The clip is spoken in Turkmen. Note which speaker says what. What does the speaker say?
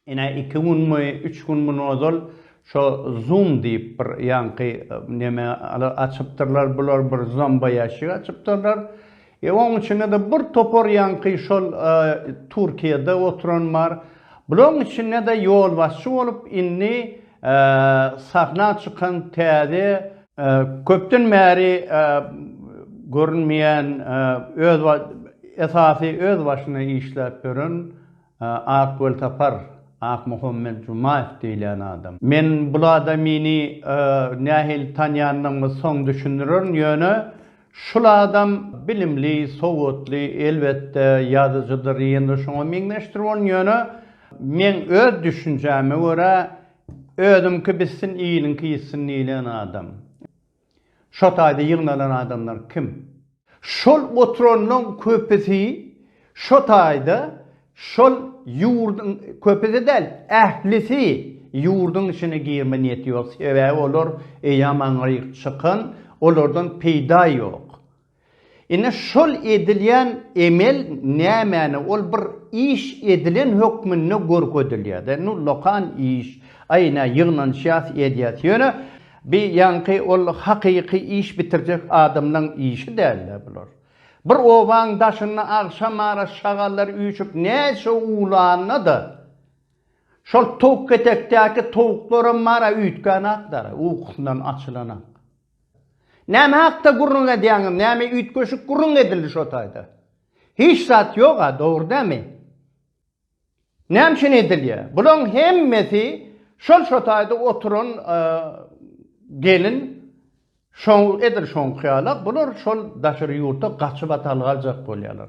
Speaker 1: Ine iki günmi, üç gün mundan ozal şo Zoom diýip bir ýaňky neme açypdyrlar bular, bir zomboýaşik açypdyrlar. E oň içinde-de bir topar ýaňky şol Türkiýede oturan bar. Bulaň içinde-de ýolbaşçy bolup indi sahna çykan täze, köpden bäri görünmeýän öz esasy öz başyna işläp ýören Ak weltapar, Akmuhammet Jumaýew diýilýän adam. Men bul adamyny nähili tanýandygymy soň düşündirerin, ýöne şul adam bilimli, sowatly, elbetde, ýazyjydyr, ýene-de şoňa meňzeşdir bolun, ýöne meň öz düşünjäme görä, özüňki bitsin, iliňki ýitsin diýilýän adam. Şo taýda ýygnalan adamlar kim? Şol oturanlaň köpüsi şo taýda şol ýurduň, köpüsi däl, ählisi ýurduň içine girme niýeti ýok, sebäbi olar eýýam aňryk çykan, olardan peýda ýok. Ine şol edilýän emel nämäni ol bir iş edilen hökmünde görkezilýärde nu lokan iş aý nä ýygnanyşýas edýäs ýöne bi ýaňky ol hakyky iş bitirjek adamlaň işi dälde bular bir obaň daşynda agşam ara şagallar üýşüp näçe uwlanda-da şol towuk ketekdäki towuklaram mara üýtgänakdara ukusyndan açylanak. Näme hakda gürrüň edýäňiz, näme üýtgeşik gürrüň edildi şo taýda? Hiç zat ýog-a, dogry dämi? Näme üçin edilýär? Bularyň hemmesi şol şo taýda oturan gelin şo edil şoňky ýala, bular şol daşary ýurta gaçyp atal galjak bolýarlar.